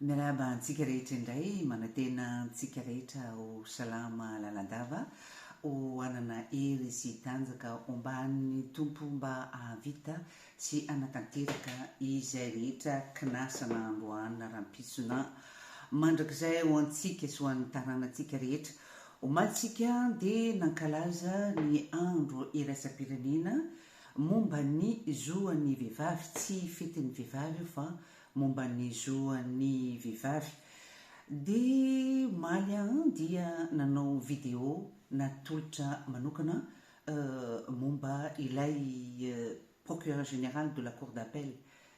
Miarahaba antsika rehetra indray, manantena antsika rehetra ho salama lalandava, ho hanana hery sy tanjaka omban'ny Tompo mba hahavita Tsy hanatanteraka izay rehetra kinasana androana rampitsona mandrakizay ho antsika sy ho an'ny taranantsika rehetra. Omaly isika dia nankalaza ny andro iraisam-pirenena momba ny zo an'ny vehivavy. Tsy fetin'ny vehivavy io fa momba ny zo an'ny vehivavy. Dia omaly aho dia nanao video natolotra manokana momba ilay Procureur Général de la Cour d'Appel,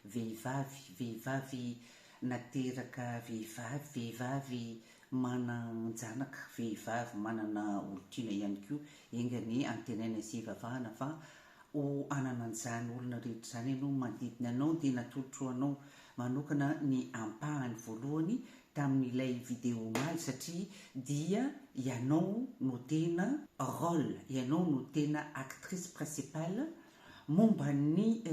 vehivavy, vehivavy nateraka vehivavy, vehivavy manan-janaka vehivavy, manana olon-tiana ihany koa, enga anie antenaina sy ivavahana fa ho hanana an'izany olona rehetra izany ianao manodidina anao dia natolotro anao manokana ny ampahany voalohany tamin'ilay vidéo omaly satria dia ianao no tena rôle, ianao no tena actrice principale momba ny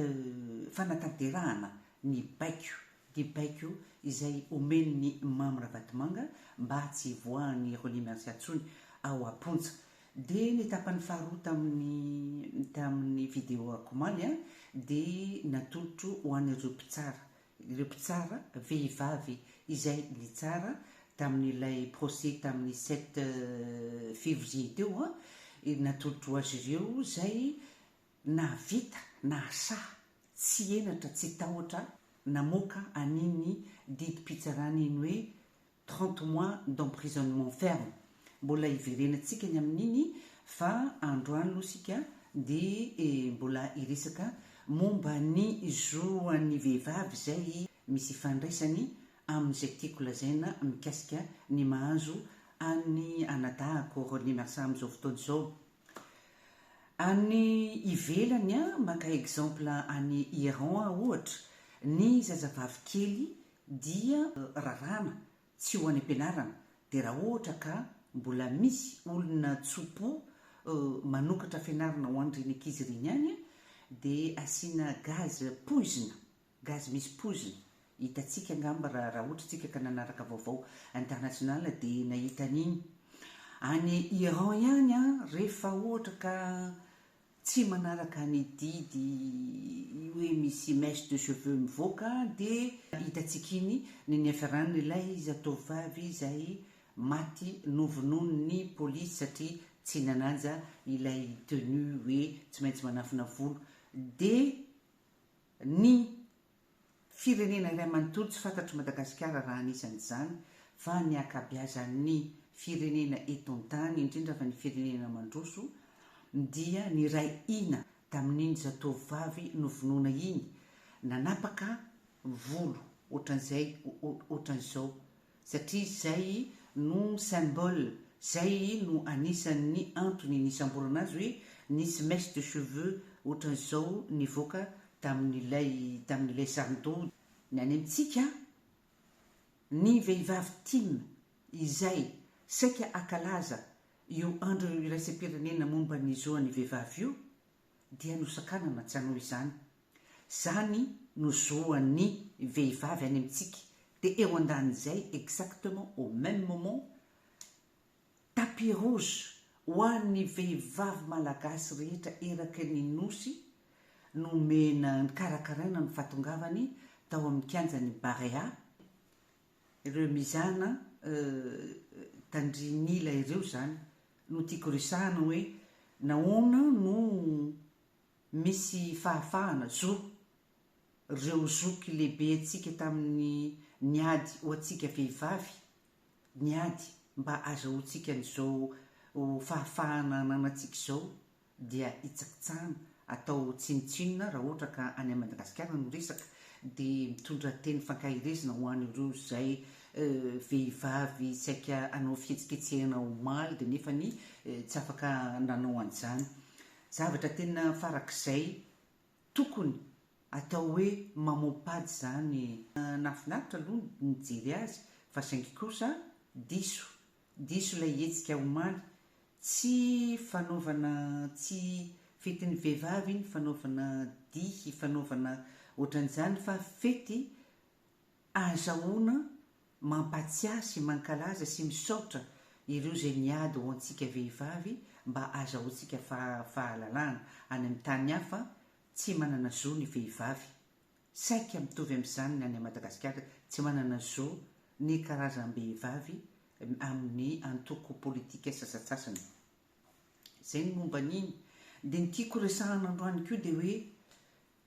fanatanterahana ny baiko dia baiko izay omen'ny Mamy Ravatomanga mba tsy hivoahan'i René Merci atsony ao Aponja. Dia ny tapany faharoa tamin'ny tamin'ny vidéo-ako omaly dia natolotro ho an'ireo mpitsara ireo mpitsara vehivavy izay nitsara tamin'ilay procès tamin'ny sept février teo, natolotro azy ireo izay nahavita, nahasaha, tsy henatra, tsy tahotra namoaka an'iny didim-pitsarana iny hoe trente mois d'emprisonnement ferme mbola hiverenantsika ny amin'iny fa androany aloha isika dia mbola hiresaka momba ny zo an'ny vehivavy izay misy ifandraisany amin'izay tiako lazaina mikasika ny mahazo an'ny anadahako René Marsa amin'izao fotoana izao any ivelany an maka exemple any Iran aho ohatra ny zazavavy kely dia raràna tsy ho any am-pianarana dia raha ohatra ka mbola misy olona tso-po manokatra fianarana ho an'ireny ankizy ireny any dia asiana gaz poizina, gaz misy poizina, hitantsika angamba raha raha ohatra isika ka nanaraka vaovao international dia nahita an'iny, any Iran ihany an rehefa ohatra ka tsy manaraka ny didy hoe misy mèche de cheveux mivoaka dia hitantsika iny ny niafaran'ilay zatovovavy izay maty novonoin'ny polisy satria tsy nanaja ilay tenue hoe tsy maintsy manafina volo dia ny Firenena iray manontolo tsy fantatry Madagasikara raha anisan' izany fa ny ankabeazan' ny firenena eto an-tany, indrindra fa ny firenena mandroso, dia niray hina tamin' iny zatovovavy novonoina iny, nanapaka volo ohatran' izay ohatran' izao satria izay no symbole, izay no anisan'ny antony nisamborana azy hoe nisy mèche de cheveux ohatran'izao nivoaka tamin'ilay tamin'ilay sarin-doha. Ny any amintsika ny vehivavy tim izay saika hakalaza io andro iraisam-pirenena momba ny zo an'ny vehivavy io, dia nosakanana tsy hanao izany. Zany no zoan'ny vehivavy any amintsika dia eo andanin'izay exactement au meme moment tapis rouge ho an'ny vehivavy malagasy rehetra eraky ny Nosy nomena nikarakaraina ny fahatongavany tao amin'ny kianjan'ny Barea Ireo mizana tandrin'ila ireo izany no tiako resahana hoe nahoana no misy fahafahana, zo, ireo zoky lehibentsika tamin'ny niady ho antsika vehivavy, niady mba azahoantsika an'izao fahafahana ananantsika izao dia hitsakitsahana atao ho tsinontsinona raha ohatra ka any Madagasikara no resaka dia mitondra teny fankaherezana ho an ireo izay vehivavy saika hanao fihetsiketsehana omaly dia nefany tsy afaka nanao an'izany. Zavatra tena farak'izay tokony atao hoe mamompady izany. Nahafinaritra aloha ny nijery azy fa saingy kosa diso Diso ilay hetsika omaly. Tsy fanaovana tsy fetin'ny vehivavy iny fanaovana dihy fanaovana ohatran'izany fa fety ahazahoana mampatsiahy sy mankalaza sy misaotra ireo izay niady ho antsika vehivavy mba ahazahoantsika fahalalahana. Any amin'ny tany hafa tsy manana zo ny vehivavy. Saika mitovy amin'izany ny any Madagasikara, tsy manana zo ny karazam-behivavy amin'ny antoko politika sasatsasany. Izay ny momba an'iny. Dia ny tiako resahana androany koa dia hoe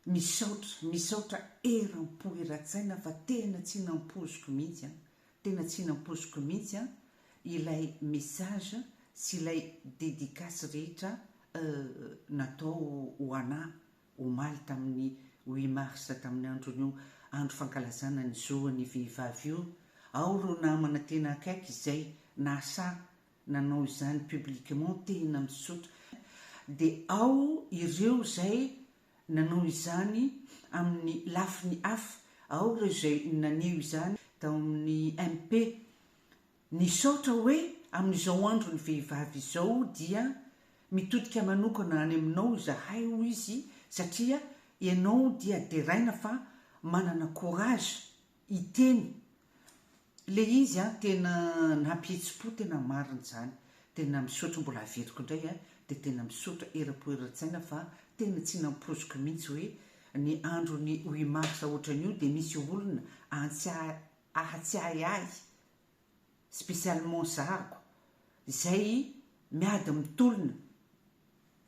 misaotra, misaotra eram-po eran-tsaina fa tena tsy nampoiziko mihitsy an, tena tsy nampoiziko mihitsy an, ilay message sy ilay dédicace rehetra natao ho anà omaly tamin'ny huit mars tamin'ny andron'io andro fankalazana ny zoan'ny vehivavy io, ao ireo namana tena akaiky izay nahasahy nanao izany publiquement tena misotra dia ao ireo izay nanao izany amin'ny lafiny hafa, ao ireo izay naneho izany tao amin'ny MP, Nisaotra hoe amin'izao andron'ny vehivavy izao dia mitodika manokana any aminao izahay hoy izy satria ianao dia deraina fa manana courage hiteny le izy an tena nampihetsi-po tena marina izany tena misaotra mbola averiko indray an dia tena misaotra era-po era-tsaina fa tena tsy nampoiziko mihitsy hoe ny andron'ny huit mars ohatran'io dia misy olona antsy ahatsiahy ahy, spécialement zariko, izay miady mitolona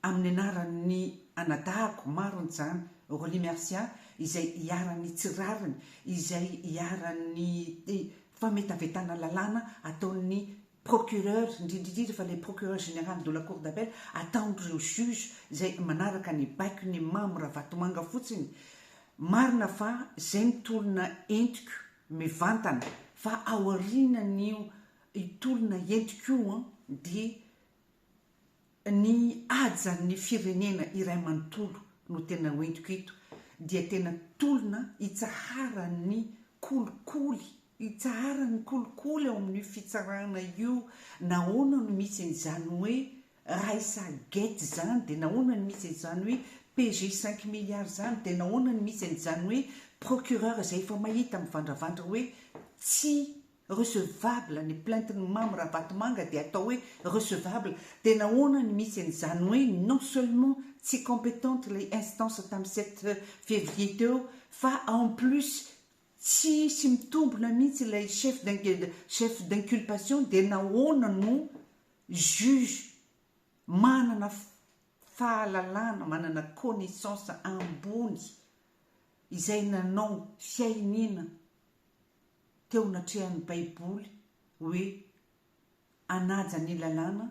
amin'ny anaran'ny anadahiko marony izany, Aurelie Mercia, izay iharan'ny tsy rariny, izay iharan'ny fametavetana lalàna ataon'ny procureur, indrindra indrindra fa ilay procureur général de la cour d'appel, ataon'ireo juge izay manaraka ny baikon'i Mamo Ravatomanga fotsiny. Marina fa izay ny tolona entiko mivantana fa aorianan'io tolona entiko io dia Ny hajan'ny firenena iray manontolo no tena hoentiko eto dia tena tolona hitsaharan'ny kolikoly, hitsaharan'ny kolikoly ao amin'io fitsarana io nahoana no misy an'izany hoe Raisa Gate izany, dia nahoana no misy an'izany hoe PJ cinq milliards izany, dia nahoana no misy an'izany hoe Procureur izay efa mahita mivandravandra hoe tsy Recevable ny plainte ny Mamy Ravatomanga dia atao hoe recevable dia nahoana ny misy an izany hoe non seulement tsy competente ilay instance tamin'ny sept février teo fa en plus tsy sy mitombina mihitsy ilay chef chef d'inculpation dia nahoana no juge manana fahalalana manana connaissance ambony izay nanao fiainiana teo anatrehan'ny Baiboly hoe, Hanaja ny lalàna,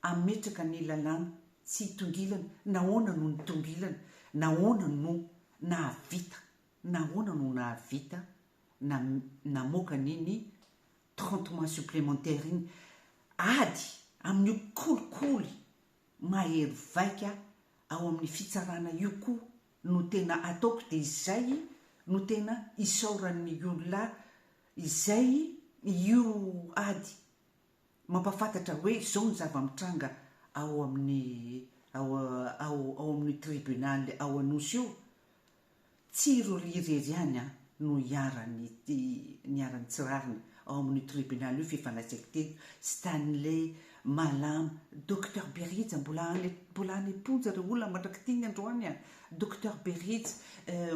hametraka ny lalàna tsy hitongilana, nahoana no nitongilana? Nahoana no nahavita? Nahoana no nahavita na namoaka an'iny trente mois supplémentaires iny? Ady amin'io kolikoly mahery vaika ao amin'ny fitsarana io koa no tena ataoko dia izay no tena isaoran'ny olona izay io ady mampafantatra hoe izao ny zava-mitranga ao amin'ny ao ao ao amin'ny tribunaly ao Anosy io, tsy i Roly irery ihany an. no iharan'ity niharan'ny tsy rariny ao amin'io tribunaly io fifandraisaiko teto, Stanley, Malama, Docteur Berija mbola any mbola any am-ponja ireo olona mandrak'ity ny androany a! Docteur Berija,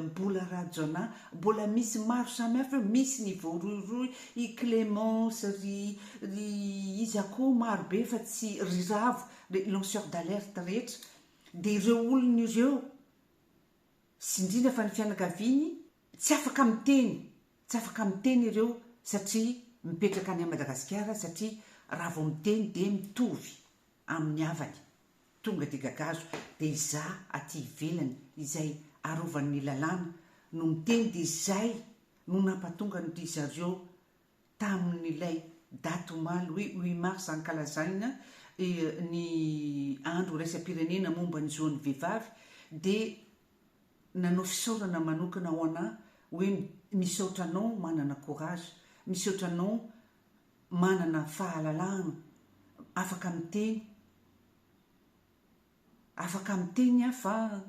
Mbola Rajaonah, mbola misy maro samihafa eo, misy ny voarohirohy, i Clémence, ry ry iza koa maro be fa tsy ry Ravo, ry lanceur d'alerte rehetra, dia ireo olona ireo sy indrindra fa ny fianakaviany tsy afaka miteny, tsy afaka miteny ireo satria mipetraka any Madagasikara satria raha vao miteny dia mitovy amin'ny havany tonga dia gagazo dia izaho aty ivelany izay arovan'ny lalàna no miteny dia izay no nampatonga an-drizareo tamin'ilay daty omaly hoe huit mars ankalazagna ny andro iraisam-pirenena momba ny zon'ny vehivavy dia nanao fisaorana manokana ho anà hoe misaotra anao manana courage, misaotra anao manana fahalalahagna, afaka miteny, afaka miteny aho fa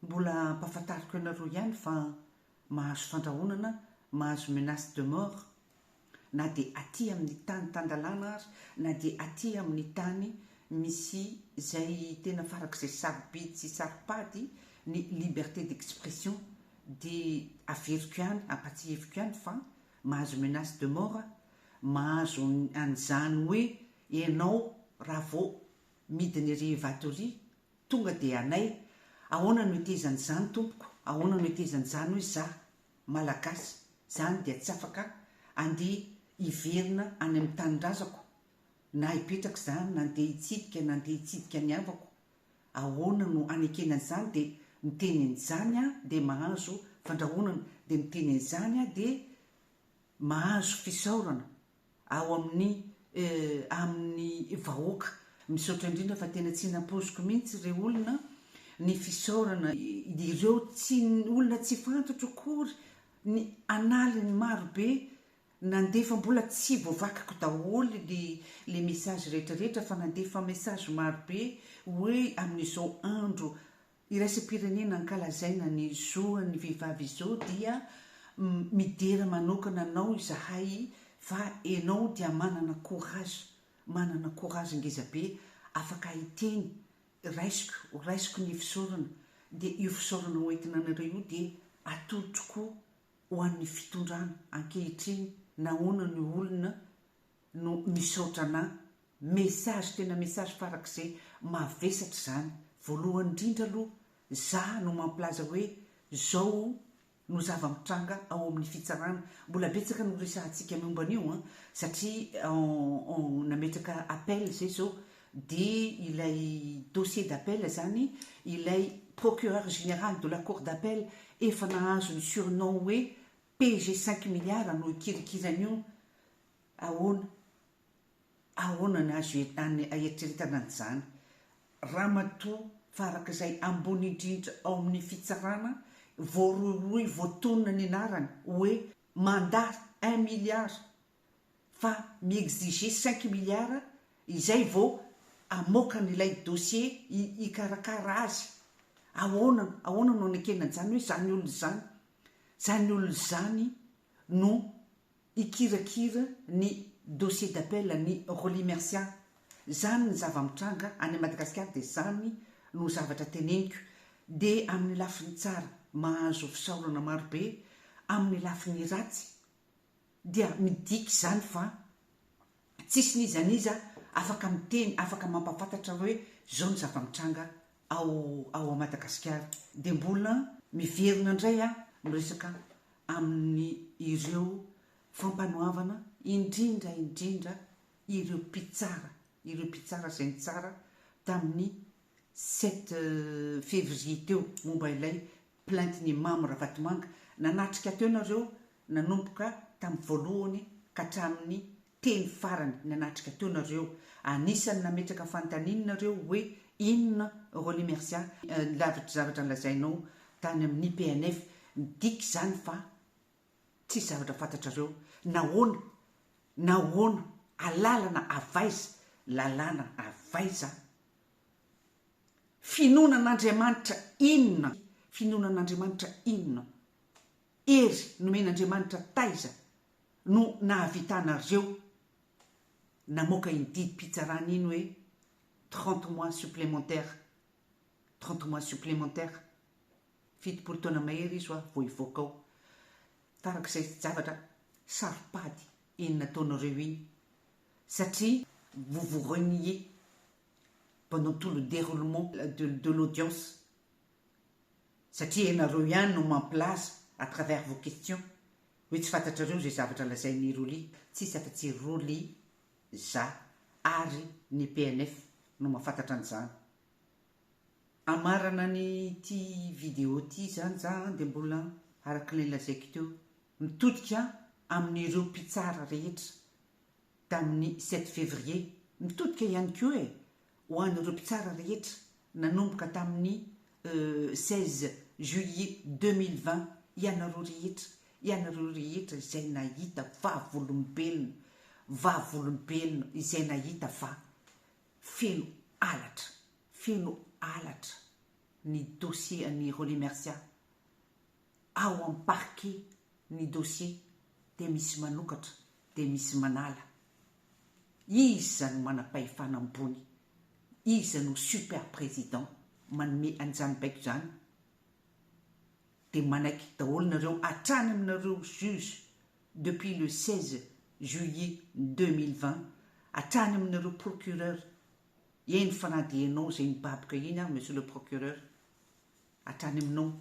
Mbola ampahafantariko anareo ihany fa mahazo fandrahonana, mahazo menace de mort na dia aty amin'ny tany tan-dalàna ary na dia aty amin'ny tany misy izay tena farak'izay sarobidy sy saro-pady ny liberté d'expression dia averiko ihany, ampahatsiheviko ihany fa mahazo menace de mort aho, mahazo an'izany hoe ianao raha vao midina ery Evato ery Tonga dia anay, Ahoana no hetezan' izany tompoko, ahoana no hetezan' izany hoy za, Malagasy, zany dia tsy afaka andeha hiverina any amin' ny tanindrazako, na hipetraka izany, na andeha hitsidika, na andeha hitsidika ny havako, ahoana no hanekena an' izany, dia miteny an' izany aho dia mahazo fandrahonana, dia miteny an' izany aho dia mahazo fisaorana. ao amin'ny amin'ny vahoaka. Misaotra indrindra fa tena tsy nampoiziko mihitsy re olona ny fisaorana ireo tsy olona tsy fantatro akory ny analiny maro be nandefa mbola tsy voavakiko daholo le le message rehetra rehetra fa nandefa message maro be hoe amin'izao andro Iraisam-pirenena ankalazaina ny zo an'ny vehivavy izao dia midera manokana anao izahay fa enao dia manana courage, manana courage ngeza be, afaka hiteny, raisiko, ho raisiko ny fisaorana, dia io fisaorana ho entina anareo io dia atolotro koa ho an'ny fitondrana ankehitriny nahoana ny olona no misaotra anà. Message tena message farak'izay mavesatra izany. Voalohany indrindra aloha za no mampilaza hoe zao no zava-mitranga ao amin'ny fitsarana. Mbola betsaka no resahantsika miomba an'io an, satria en nametraka appel izay izao dia ilay dossier d'appel izany ilay procureur général de la cour d'appel efa nahazo ny surnom hoe PG cinq milliards no ikirinkiran io ahoana ahoana ny azo aeritreretana an'izany ramatoa fa araka izay ambony indrindra ao amin'ny fitsarana voarohirohy voatonona ny anarany hoe mandat un milliard fa mi-exiger cinq milliards izay vao hamoaka an'ilay dossier hikarakara azy. Ahoana ahoana no anekena an'izany hoe izany olona izany, izany olona izany no hikirakira ny dossier d'appel an'i Rolly Mercia. Izany ny zava-mitranga any Madagasikara dia izany no zavatra teneniko. Dia amin'ny lafiny tsara mahazo fisaorana marobe, amin'ny lafiny ratsy dia midika izany fa tsisy n'iza n'iza afaka miteny, afaka mampafantatra hoe zao ny zava-mitranga ao ao Madagasikara. Dia mbola miverina indray aho miresaka amin'ny ireo fampanoavana indrindra indrindra ireo mpitsara, ireo mpitsara izay nitsara tamin'ny sept février teo momba ilay plainte ny Imam Ravatomanga nanatrika teo nareo nanomboka tam voalohany ka hatramin'ny teny farany nanatrika teo nareo anisany nametraka fantaniny nareo hoe inona Rolly Mercia ny lavitr'y zavatra nolazainao tany amin'ny PNF midika izany fa tsisy zavatra fantatrareo nahoana nahoana alalana avaiza lalàna avaiza Finoana an'Andriamanitra inona? Finoana an'Andriamanitra inona? Hery nomen'Andriamanitra taiza no nahavitanareo namoaka iny didim-pitsarana iny hoe trente mois supplémentaires, trente mois supplémentaires? Fitopolo taona mahery izy ho'a vao hivoaka ao. Tarak'izay zavatra saropady iny nataonareo iny satria vous vous reniez mpanao tout le deroulement de de l'audience satria ianareo ihany no mampilaza à travers vos questions hoe tsy fantatrareo izay zavatra lazain'i Rolly, tsisy afa-tsy i Rolly, za ary ny PNF no mahafantatra an'izany. Amarana ny ity vidéo ity izany za an dia mbola araka ilay lazaiko teo mitodika amin'ireo mpitsara rehetra. tamin'ny sept février, mitodika ihany koa e, ho an'ireo mpitsara rehetra, nanomboka tamin'ny seize juillet deux mille vingt, ianareo rehetra, ianareo rehetra izay nahita vavolombelona, vavolombelona izay nahita fa feno halatra, feno halatra ny dossier an'i Rolly Mercia. ao am parquet ny dossier dia misy manokatra dia misy manala, iza no manam-pahefana ambony, iza no super président manome an'izany baiko izany, dia manaiky daholo nareo hatrany aminareo juge depuis le seize juillet deux mille vingt hatrany aminareo procureur, eny fa na dia ianao izay nibaboka iny ary monsieur le procureur, Hatrany aminao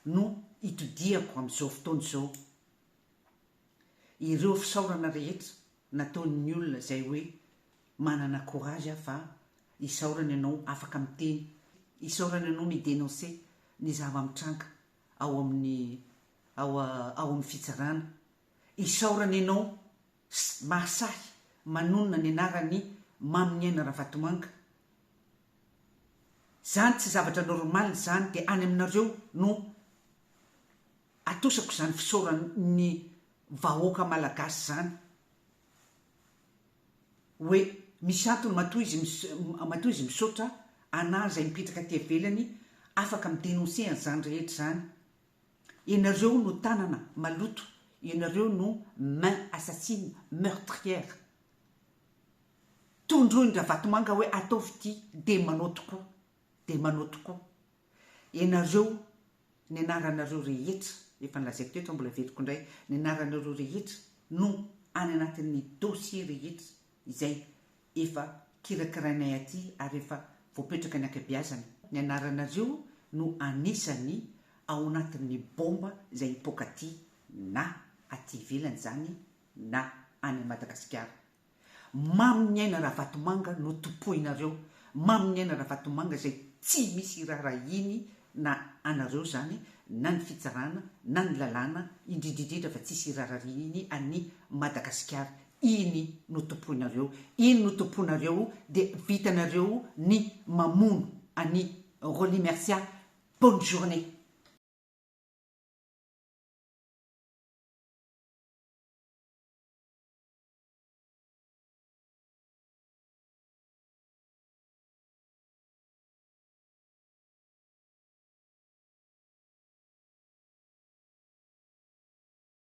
no itodihako amin'izao fotoana izao ireo fisaorana rehetra nataon'ny olona izay hoe manana courage aho fa isaorana ianao afaka miteny, isaorana ianao mi-denoncer ny zava-mitranga ao amin'ny ao amin'ny fitsarana, isaorana ianao Pst, mahasahy manonona ny anaran'i Mamy Niaina Ravatomanga zany tsy zavatra normal zany de any aminareo no atosako zany fisaoran'ny vahoaka malagasy zany oe misy antony matoa izy matoa izy misaotra anah zay mipetraka aty avelany afaka mi denoncer an'zany rehetra zany Ianareo no tanana maloto, ianareo no main assassine meurtrière. Tondroin-dRavatomanga hoe ataovy ity dia manao tokoa, dia manao tokoa. Ianareo, ny anaranareo rehetra, efa nolazaiko teto aho mbola averiko indray, ny anaranareo rehetra no any anatin'ny dossier rehetra izay efa kirakirainay aty ary efa voapetraka ny ankabeazana, ny anaranareo no anisany ao anatin'ny bomba izay hipoaka aty na aty ivelany izany na any Madagasikara. Mamin'ny aina Ravatomanga no tompoinareo, mamin'ny aina Ravatomanga izay tsy misy iraharahiany na anareo izany na ny fitsarana na ny lalàna, indrindrindrindra fa tsisy irarariany an'i Madagasikara, Iny no tompoinareo, iny no tompoinareo dia vitanareo ny mamono an'i Rolly Mercia bonne journée.